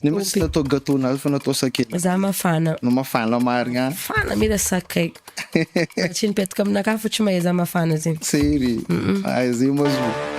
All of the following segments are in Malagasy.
Nefa tsy natao gateau nazy fa natao sakay. Za mafana. No mafana marigna. Mafana mila sakay. Tsy mipetaka aminakahy fa tsy mahay za mafana zegny. Tsery. Ay zay ma zo.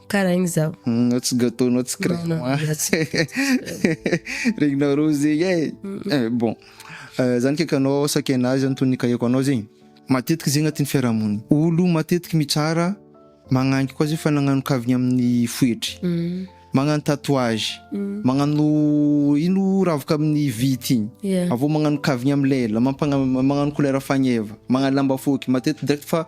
Karaigny zaho. Nao tsy gâteau nao tsy crème. Non, non, za tsy Regninao roa zegny eh. Eh, bon. Eh, zany kaiky anao saky anah zany toy ny kaheko anao zegny. Matetiky zegny agnatin'ny fiarahamonina. Olo matetiky mitsara magnangy koa zay fa nagnano kavigna amin'ny foetry. Magnano tatouage. Magnano ino ravoka amin'ny vity igny. Yeah. Avy eo magnano kavigna amin'ny lela, mampagna- magnano kolera fagneva, magnano lamba fohy. Matetiky direct fa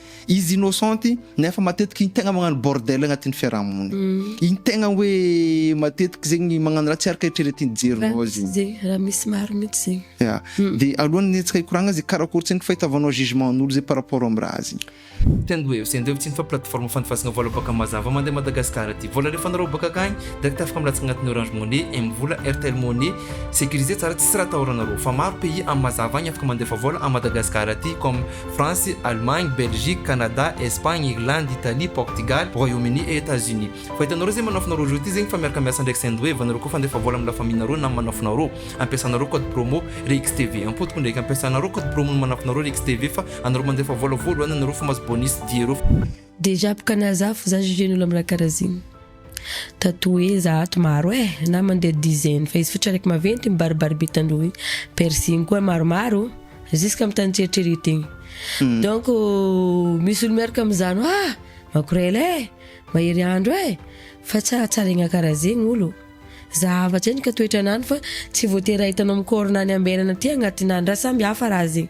Izy innocent nefa matetika iny tegna magnano bordel agnatin'ny fiarahamonina iny tegna hoe matetika zegny magnano raha tsy araka eritreretin'ny jerinao zegny. Ze raha misy maro mintsy zegny. Ya, de alohan'ny hetsika hikoragna ze karakory tsy hain'ny fahitavanao jugement an'olo ze par rapport amin'ny raha zegny. Tendwave, Sendwave tsy inona fa plateforme fandefasagna vola bôka mazava mandeha Madagascar aty. Vola alefanareo bôka akagny, direct afaka milatsaka agnatin'ny Orange Money, M-vola, Airtel Money. Sécurisé tsara tsisy raha atahoranareo. Fa maro pays am mazava agny afaka mandefa vola à Madagascar aty comme. France, Allemagne, Belgique, Canada, Espagne, Irlande, Italie, Portugal, Royaume Uni et Etats Unis. Fa hitanao reo zay manafinao reo jour ty zegny fa miaraka miasa ndraiky sendwave anareo koa fandefa vola amin'ny la famille nareo na manafinareo ampiasanareo code promo rixtv ampotoko ndraiky ampiasanareo code promo ny manafinareo rixtv fa anareo mandefa vola voalohany anareo fa mahazo bonus diereo Dejà boka nazafy za juger ny olo am raha karaha zigny ta toeza ato maro eh na mandeha dizaine fa izy fotsy araiky maventy igny baribary be tandroy igny piercing koa maromaro jusque am tany tsy eritreretegny donc misy olo miaraka am zany hoa makorela eh mahery andro eh fa tsy ahatsaregna karaha zegny olo za hafa tsy endrika toetranany fa tsy voatery ahitanao am corps nany ambenana aty agnatinany raha samy hafa raha zegny.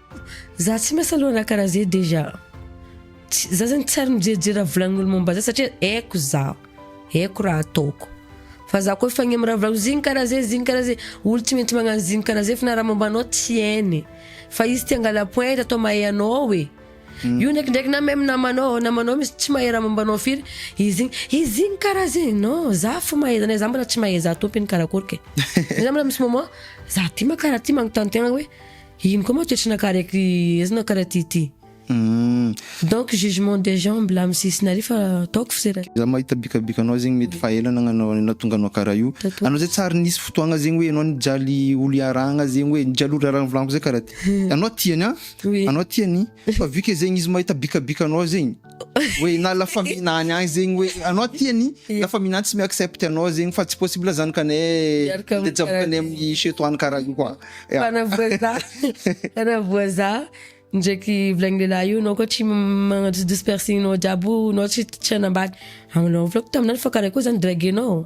Za tsy miasa loha raha karaha zay dejà tsy za zany tsy ary mijerijery raha volagnin'olo momba za satria aiko zaho aiko raha ataoko fa za koa efa agny am'raha volagny zigny karaha zay zigny karaha zay olo tsy maintsy magnano zigny karaha zay fa na raha momba anao tsy hainy fa izy te hangala point eto atao mahay anao e io ndraikindraiky na même namanao namanao misy tsy mahay raha momba anao firy izy igny izy zigny karaha zay non za fo mahay zany za mbola tsy mahay za tompiny karakory ke za mbola misy moment za ty ma karaha ty magnontany tegna hoe Ino koa moa tsy nakareky ezy nakare ty ty. Donc jugement des gens mbola am sisiny ary fa ataoko fsera. Za mahita bikabika anao zegny mety fa ela nagnanao an'i nahatonga anao karaha io. Anao zay tsary nisy fotoagna zegny hoe anao nijaly olo iarahagna zegny hoe nijaly olo iarahagna volaniko zay karaha ty. Anao tia ny an! Anao tia ny! Fa vu que zegny izy mahita bikabika anao zegny. hoe na la famille na any any zegny hoe anao tia ny la famille na tsy mi accepte anao zegny fa tsy possible zany ka ne Miaraka amin'ny mijaboka any karaha- amin'ny chez toi any karaha io koa Yeah. Fana voaza fana voaza ndraiky volagn'ny lehilahy io anao koa tsy m- magnajodosy piercing-nao jiaby io anao tsy tsy hanambady anao volako taminah fa karaha koa zany draguer-nao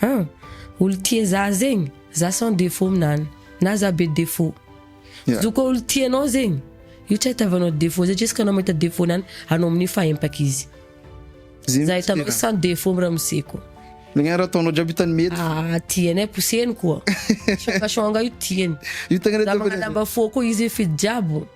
An! Olo tia za zegny, za sans défaut minany, na za be défaut. Yeah. Zo koa olo tia anao zegny, io tsy ahitavanao défaut satria izy ka anao mahita défaut nany, anao amin'io fa empaka izy. Zegny Za hitanao tsena. sans défaut miramose ko. Zegny ara ataonao jiaby hitany mety. Ah, tiany ai, poseny koa. Shonga shonga io tiany. Io tegna Za magnalamba fo koa izy fidy jiaby.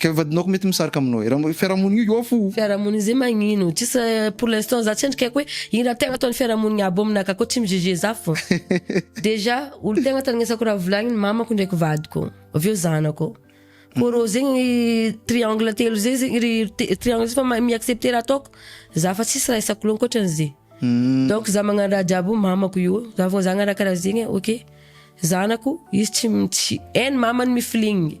Ka vadinao ko mety misarika aminao e. Raha fiarahamonigna io off o. Fiarahamonigny zay magnino? Tsisy pour l'instant za tsy endrika aiko hoe ino raha tegna ataon'ny fiarahamonigny aby aminaka akao tsy mi juger za fô déjà olo tegna tandrinesako raha volagniny mamako ndraiky vadiko avy eo zanako ko rô zegny triangle telo zay zegny ry triangle fa mi accepter raha ataoko za fa tsisy raha isako loha ankoatran'ze donc za magnano raha jiaby io mamako io za vao zagna raha karaha zegny ok zanako izy tsy tsy hainy mamany mifilignigny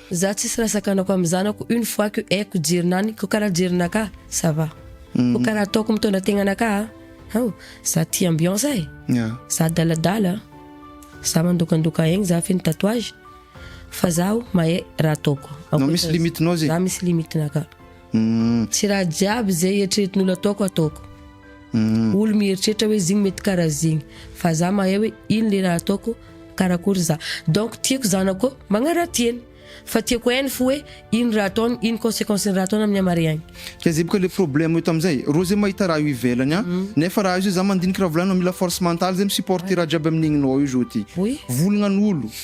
Za tsisy raha sakanako am zanako une fois que haiko jerinany ko karaha jerinaka ça va ko karaha ataoko mitondra tegnanaka a haoo za tia ambiance e za adaladala za mandokandoka egny za feno tatouage fa zaho mahay raha ataoko ankoatran'izay za misy limite naka. Umm. Tsy raha jiaby zay eritreretin'olo ataoko ataoko. Umm. Olo mieritreritra hoe zigny mety kara zigny. Fa za mahay hoe ino le raha ataoko, karakory za. Donc tiako zanako magnaratiany. Fa tiako hainy fo hoe ino raha ataony, ino consequence ny raha ataony amin'ny hamariagny. Zay zay boka le problème eto amizay. Rô zay mahita raha io ivelany an. Nefa raha io zay za mandiniky raha volanignao mila force mentale zay mi supporter raha jiaby amin'igny nao io zao ty. Volagna an'olo.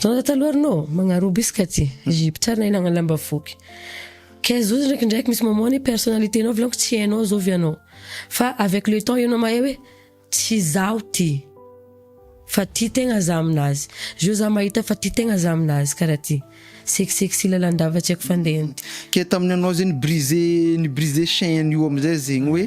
Zao taloha arnô magnarobo izy ka ty ry mpitsara nahay nagnala mba voky kay zao ndraikindraiky misy mamoha ny personnalité nao volagniko tsy hainao zao ve anao fa avec le temps enao mahay hoe tsy zaho ty fa tia tegna za aminazy zao za mahita fa tia tegna za aminazy karaha ty seksek sy lalandava tsy haiko fandehany ty. Kay tamin'ny anao zay ni-briser ni-briser chaine io amizay zegny hoe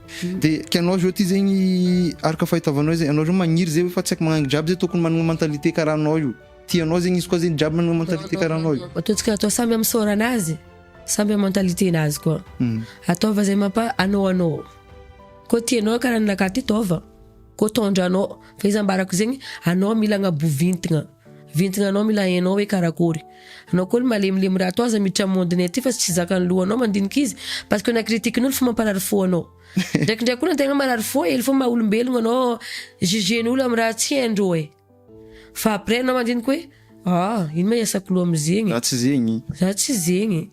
De kianao zao ty zegny araka fahitavanao zay anao zao magniry zay fa tsy aiko magnagny jiaby zay tokony managna mentalité karaha anao io ty anao zegny izy koa zegny jiaby managna mentalité karaha anao io. Matoantsika atao samy am sôranazy samy am mentalité nazy koa ataova zay mampa anao anao koa ty anao karaha ny nakahy ty taova koa tondranao fa izy ambarako zegny anao mila agnabovintigna. Vintigna anao mila hainao hoe karakory Anao koa le malemilemy raha atao aza miditra monde nay ty fa tsy zakan'ny lohanao mandinika izy parce que na critique n'olo fa mamparary fo anao Ndraikindraiky koa na tegna marary fo ely fo maha olombelogno anao juger ny olo am raha tsy haindreo e Fa après anao mandinika hoe ah ino ma iasako loha am zegny e Za tsy zegny e.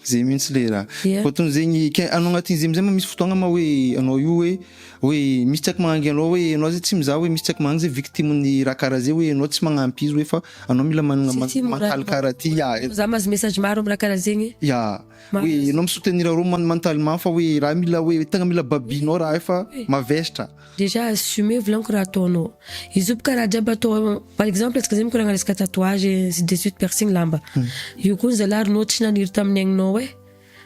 Zay mintsy le ra. Dia. Ohatran zegny ke anao agnatin zegny amizay ma misy fotoagna ma hoe anao io hoe hoe misy tsaiky magnangy anao hoe anao zay tsy mizaha hoe misy tsaiky magnangy zay victime ny ra kara zay hoe anao tsy magnamp izy hoe fa anao mila managna ma mantaly kara ty ya e. Za mahazo message maro am ra kara zegny. Ya hoe anao mi soutenir arô man mantaly ma fa hoe ra mila hoe tegna mila babinao ra io fa mavestra. Déjà assumer volaniko raha ataonao. Izy io bka raha jiaby atao par exemple antsika zay mikoragna resaka tatouage ainsi de suite piercing lamba. Io koa ny zalahy ry nô tsy naniry tamin'ny aignao eh.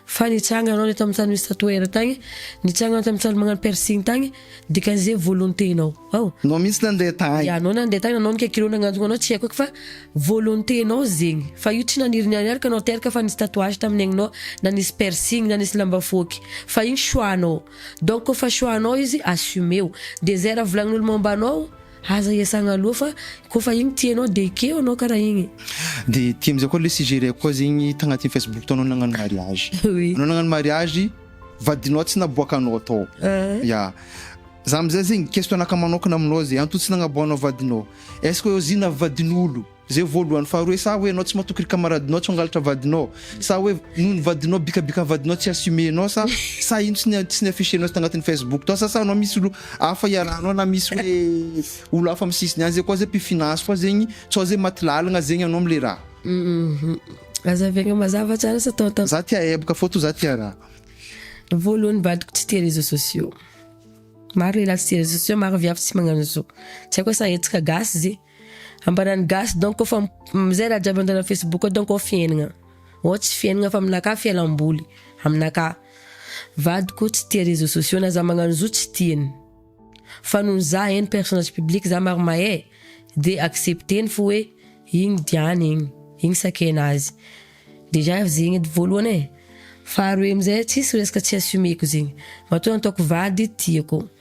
Fa nitsanga anao le tamin'ny tany misy tatoueur tagny, nitsanga anao tamin'ny tany magnano piercing tagny, dikan'izay volonté nao. Ao. Nao mihitsy nandeha tagny. Ya nao nandeha tagny na nao nikakiro nagnantogna anao tsy haiko eky fa volonté nao zegny. Fa io tsy naniry niaraka nao teraka fa nisy tatouage tamin'ny aignao na nisy piercing na nisy lamba foaky. Fa igny choix nao. Donc efa choix anao izy assumeo. Dia izay raha volagnin'olo momba anao aza iasagna aloha fa koa fa igny tianao dia ekeo anao karaha igny. Dia aty amizay koa le suggere-ko koa zegny tagnatin'ny Facebook tao anao nagnano mariage. Oui. Anao nagnano mariage, vadinao tsy naboakanao tao. Ah. Ya. Za amizay zegny question-naka manokana aminao zay, anto tsy nagnaboahanao vadinao? Est-ce que ozinah vadin'olo? Zay voalohany faharoa hoe sa hoe enao tsy matoky ry camaradinao tsy hangalatra vadinao sa hoe noho ny vadinao bikabika ny vadinao tsy assume enao sa sa ino tsy ny tsy ny affiche enao tagnatin'ny facebook tao sa sa anao misy olo hafa iarahanao na misy hoe olo hafa amin'ny sisiny any zay koa zay mpifina azy koa zegny sao zay maty lalagna zegny anao amle raha Azavegna mazava tsara sa atao tam. Za tia hebaka fô to za tia raha. Voalohany vadiko tsy tia réseaux sociaux. Maro lehilahy tsy tia réseaux sociaux, maro viavy tsy magnano zo. Tsy haiko sa hetsaka gasy ze. Ambaran'ny gasy donc fa izay raha jiaby antanan'ny facebook donc ao fiainagna, ao tsy fiainagna fa aminakahy fialamboly, aminakahy. Vadiko tsy tia réseaux sociaux na za magnano zo tsy tiany. Fa noho za en personnage public za maro mahay de accepteny fo hoe igny diany igny, igny sakena azy. Déjà zegny edy voalohany e, faharoe amizay tsisy resaka tsy assumeko zegny, matoa nataoko vady tiako.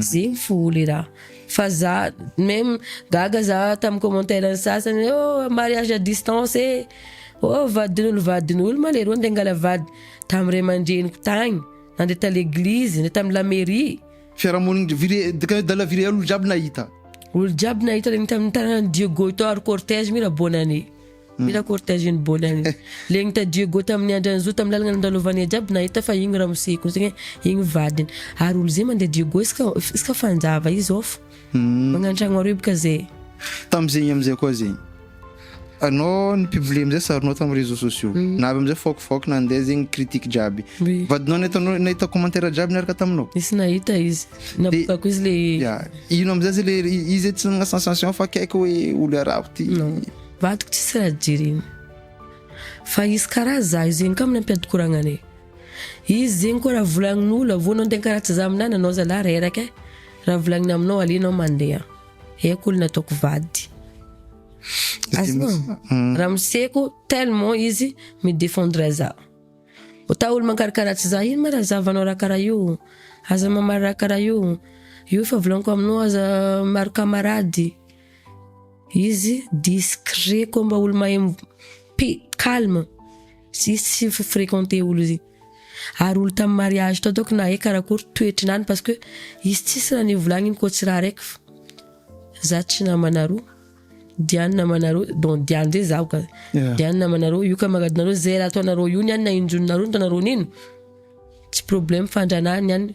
Ziny foly ra. Fa za même gaga za tam commentaire ny sasany hoe oh mariage à distance eh! Oh vadin'olo vadin'olo ma leroa ndeha hangala vady tam ray aman-dreniko tagny, nandeha ta l'église, nandeha tam la mairie. Fiarahamonina vire de de la vireal olo jiaby nahita. Olo jiaby nahita le nitana ny dieu goy tao ary cortège mi ra bonne année. Mila cortège iny bola iny. Le nita Diego tamin'ny andry an'zo tamin'ny lalagna nandalovan'e jiaby nahita fa igny ramose ko zegny igny vadiny. Ary olo ze mandeha Diego iska iska fanjava izy off. Magnantragno aroy bka ze. Tamzegny amzay koa zegny anao ny mpivolia amzay saronao tam réseaux sociaux na avy amzay fôk fôk nande zegny critique jiaby. Vadinao nahitanao nahita commentaire jiaby niaraka taminao? Nisy nahita izy. Nabokako izy le. Ya ino amzay ze le izy tsy nanagna sensation fa akaiky hoe olo arabo ty. Vadiko tsisy raha jereny fa izy karaha zaho zegny ka manampy ady koragnanay izy zegny koa raha volagnin'olo avy eo anao ndeha karaha tsy zaho aminah nanao zalah reraka eh raha volagniny aminao aleo anao mandeha haiko olona ataoko vady azonao ramoseko tellement izy mi defendre za ota olo mankarakara tsy za ino ma raha zahavanao raha karaha io aza mamaly raha karaha io io efa volagniko aminao aza maro kamarady Izy discret koa mba olo mahay pi calme sy tsy fi frequenter olo izy ary olo tam mariage tao donc nahay karakory toetry nany parce que izy tsisy raha nivolagniny koa tsy raha raiky fa za tsy namana roa Diane namana roa donc Diane zay zaho ka Diane namana roa io kamaradinareo zay raha ataonareo io ny any na injonareo ny ataonareo nino tsy problème fandranahany any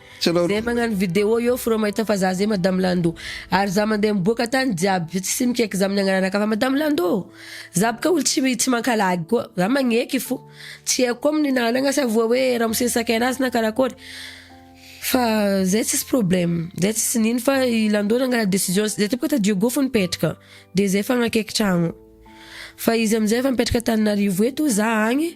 Zay magnano video eo f'reo mahita fa za zay madame Lando ary za mandeha miboaka tany jiaby fa tsy mikeky za amin'ny agnarana kafa madame Lando ô! Za boka olo tsy tsy mankalagy koa, za magneky fo, tsy haiko koa amin'ny nanagna sa voa hoe ramose nisakay anazy na karakôry fa zay tsisy problème, zay tsisy nino fa i Lando nangala décision zay teo boka tadidio go fo nipetraka de zay fa nakeky tragno fa izy amizay efa mipetraka Antananarivo eto za agny.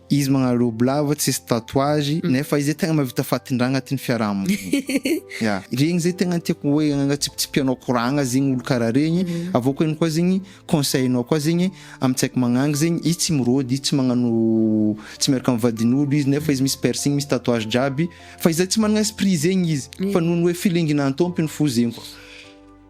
Izy magnarobby lava tsisy tatouage nefa izy zay tegna mahavita fatin-draha agnatin'ny fiarahamonina. Ya, regny zay tegna tiako hoe agnantsipitsipihanao koragna zegny olo karaha regny, avy eo koa ihany koa zegny conseil-nao koa zegny amin-tsaiky magnangy zegny izy tsy mirôdy, izy tsy magnano tsy miaraka amin'ny vadin'olo izy nefa izy misy piercing, misy tatouage jiaby fa izy zay tsy managna esprit zegny izy fa noho ny hoe filinginan'ny tômpiny fo zegny.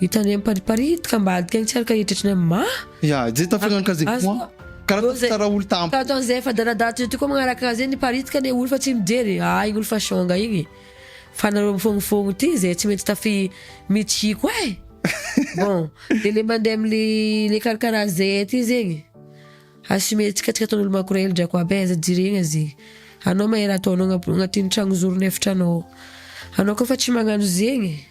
Hitanay am Paris Paris ito ka mba adika ny tsy araka heritreritra ny mah. Ya, izay tafela ny case point. Karaha ataovy tsara olo tam. Ka ataon zay efa danadaha toy ity koa magnaraka azy ny Paris tika ne olo fa tsy mijery e, aa igny olo fa siônga igny fa nareo mifognofogno ity zay tsy mety tafi mitsy koa e. Bon, de le mande am le le karakaraha zay aty zegny assumer tsika tsika ataonolo makorely drako aby e aza jiregna ze anao mahery ataonao agnatin'ny tragno zorony efitranao anao koa fa tsy magnano zegny e.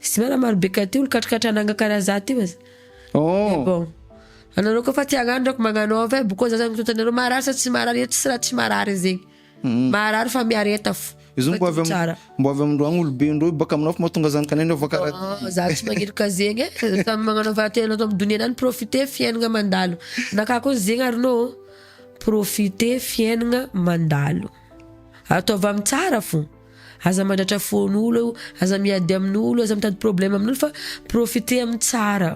Festival maro be ka teo likatrikatra nangakara za teo aza. Oh. Bon. Anareo koa fa tsy hagnano reko magnano off eh boko za zany mitota anareo marary sa tsy marary eto tsy raha tsy marary zegny. Mm. Marary fa miareta fo. Izy mbo avy am mbo avy amindro agny olobe indreo baka aminao fa mahatonga zany kanena fa kara. Oh, za tsy magnirika zegny eh. Samy magnano fa tena ato amdonia nany profiter fiainagna mandalo. Naka koa zegny ary no profiter fiainagna mandalo. Ataovy am tsara fo. Aza mandratra fon olo eo, aza miady amin olo, aza mitady problème amin olo fa profiter amin tsara.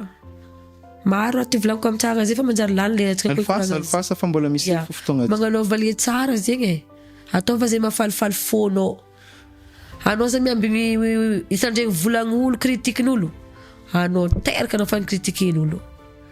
Maro raha ty volagiko amin tsara zay fa manjary lany le hetsika koa hikoragna amin Alfasa, alfasa fa mbola misy yeah. fotoagna ty. Magnanaova le tsara zegny e. Ataova zay mahafalifaly fonao. Anao aza miamby hitandregny volagn olo, critique nolo. Anao teraka anao fa ni critique in olo.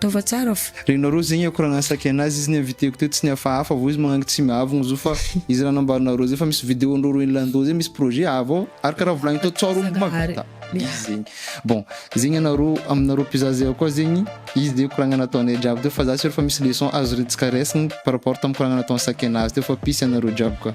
Taova tsara fa. Renao roa zegny ako raha nahasaky anazy izy niinviteko teo tsy nihafahafa vao izy magnagny tsy miavogno zo fa izy raha nambarinao roa zay fa misy video ndreo roa inlandoo zay misy projet avo ao ary karaha volagniko tao tsao roa mbo mahavita izy zegny bon zegny anareo aminareo mpizaha zay akoa zegny izy de koragna nataonay jiaby teo fa za sur fa misy leçon azorintsika raisiny par rapport tam koragna natao ansaky anazy teo fa peace anareo jiaby ka